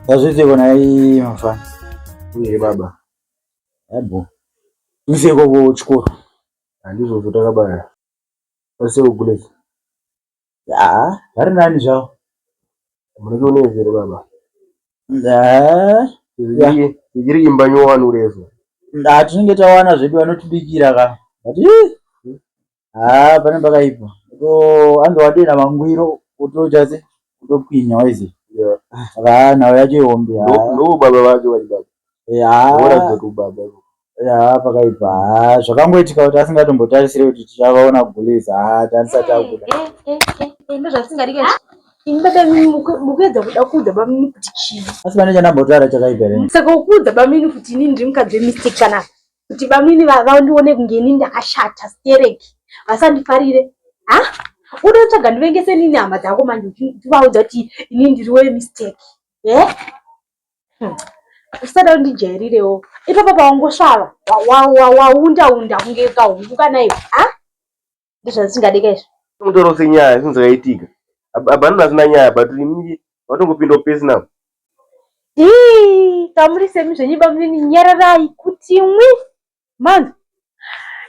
Azviite kona hii mafana. Uye baba. Yabo. Mse koko chikoro. Andizvo zvotakabaya. Ose ukulezi. Ya, hari nani zvawo. Mureke unezere baba. Nda. Ya. Iri imba nyowani urezo. Nda tinenge tawana zvedu vanotibikira ka. But haa pane pakaipa anzi wadira mangwiro utochase utokwinya waizi haa nhau yacho ihombe ndoo baba vacho vaibaba haa kubaba haa pakaipa haa zvakangoitika kuti asingatombotarisire kuti tichavaona gules haa tanisati akuda ndozvasingadike mukuedza kuda kuudza bamini kuti chii asi pane chandambotaura chakaipa saka ukuudza bamini kuti ini ndiri mukadzi wemistake panapa kuti bamwini vandione kunge ini ndakashata stereki vasandifarire ha unotsvaga ndivengese nini hama dzako manje uchivaudza kuti ini ndiri we mistake e eh? hmm. usada undijairirewo ipapa pawangosvava waundaunda kunge kahungu kana iwe ha ndozvazvisingadiika izvi tomutora senyaya zvinhu zvakaitika abhanhu vasina nyaya but imii vatongopinda upesi navo tamuri semi zvenyu bamunini nyararai kuti mwi manzi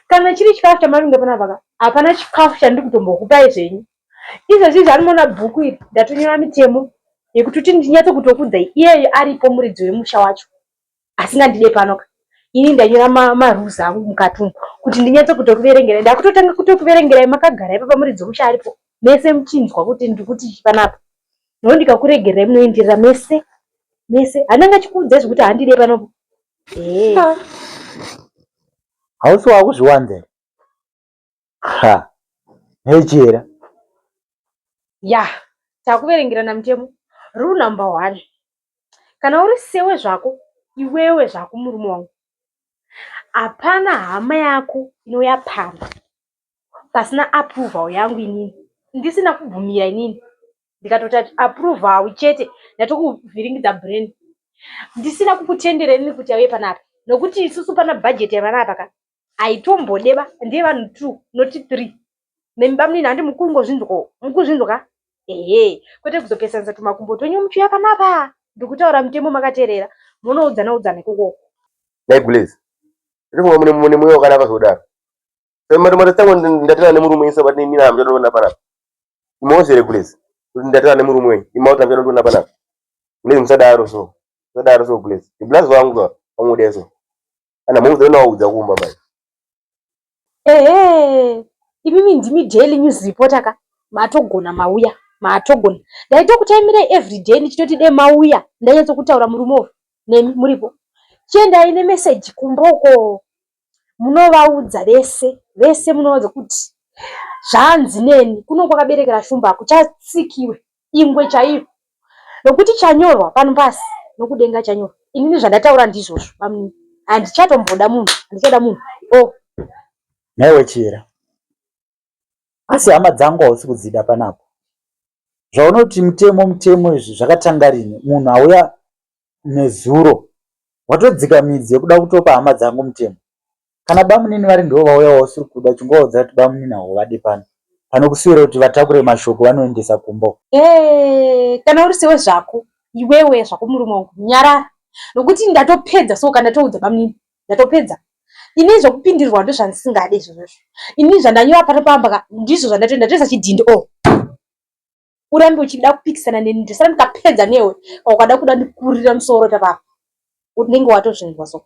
kana chiri chikafu chamavinga panapaka hapana chikafu chandiri kutombokupai zvenyu izvezvi zvanimoona bhuku iri ndatonyora mitemo yekuti kuti ndinyatso kutokudzai iyeyo aripo muridzi wemusha wacho asingandide panoka ini ndanyora marules angu mukati umu kuti ndinyatse kutokuverengerai ndakutotanga kutokuverengerai makagara ipapa muri dzomusha aripo mese muchinzwa kuti ndikuti panapa no ndikakuregererai munoenderera mese mese handanga achikuudzai zvekuti handide panopo hausi wakuzviwanzera ha hechera ya takuverengerana mutemo rule number one kana uri sewe zvako iwewe zvako murume wangu hapana hama yako inouya pamba pasina approval yangu inini ndisina kubvumira inini ndikatoti approval chete ndatikuvhiringidza brain ndisina kukutendera inini kuti auye panapa nokuti isusu pana budget yavana apa ka aitombodeba ndiye vanhu two not three nemi bamunini handi mukungozvinzwawo mukuzvinzwa ka ehe kwete kuzopesanisa tumakumbo twenyu muchiuya panapa ndikutaura mutemo makateerera munoudzana udzana ikokoko Negless. Ndikuwa mune mune mwe wakana kuzodaro. Sema mara mara tangu ndatira ne murume isa bati mina amjado ndona pana. Imoze regules. Ndatira ne murume imauta amjado ndona pana. Mune msadaro so. Msadaro so regules. Iblazo wangu wangu deso. Kana move then waudza kumba mai. Ehe. Imimi ndimi daily news reporter ka. Matogona mauya. Matogona. Ndaitokuchaimira every day ndichitoti de mauya. Ndanyatso kutaura murume uyu. Nemi muripo. Chienda ine message kumba uko. Munovaudza vese. Vese munovaudza kuti zvanzi neni kuno kwakaberekera shumba kuchatsikiwe. ingwe chaiyo nokuti chanyorwa pano pasi nokudenga chanyorwa inini zvandataura ndizvozvo bamnini handichatomboda munhu handichada munhu o oh. newe chira asi hama dzangu hausi kudzida panapo zvaunoti mutemo mutemo izvi zvakatanga rini munhu auya nezuro watodzika midzi yekuda kutopa hama dzangu mutemo kana bamunini vari ndivo vauya wausiri kuda chingovaudza kuti bamunini hauvadi pano pano kusiyira kuti vatakure mashoko vanoendesa kumbo hey, eh, kana uri sewe zvako iwewe zvako murume wangu nyarara nokuti ndatopedza so kana toudza bamunini ndatopedza ini zvokupindirwa ndo zvandisingadi izvozvozvo ini zvandanyora pano pamba ndizvo zvandatoenda toisa chidhindi o oh. urambe uchida kupikisana neni ndisara ndikapedza newe ukada kuda ndikurira musoro tapapa unenge watozvinzwa so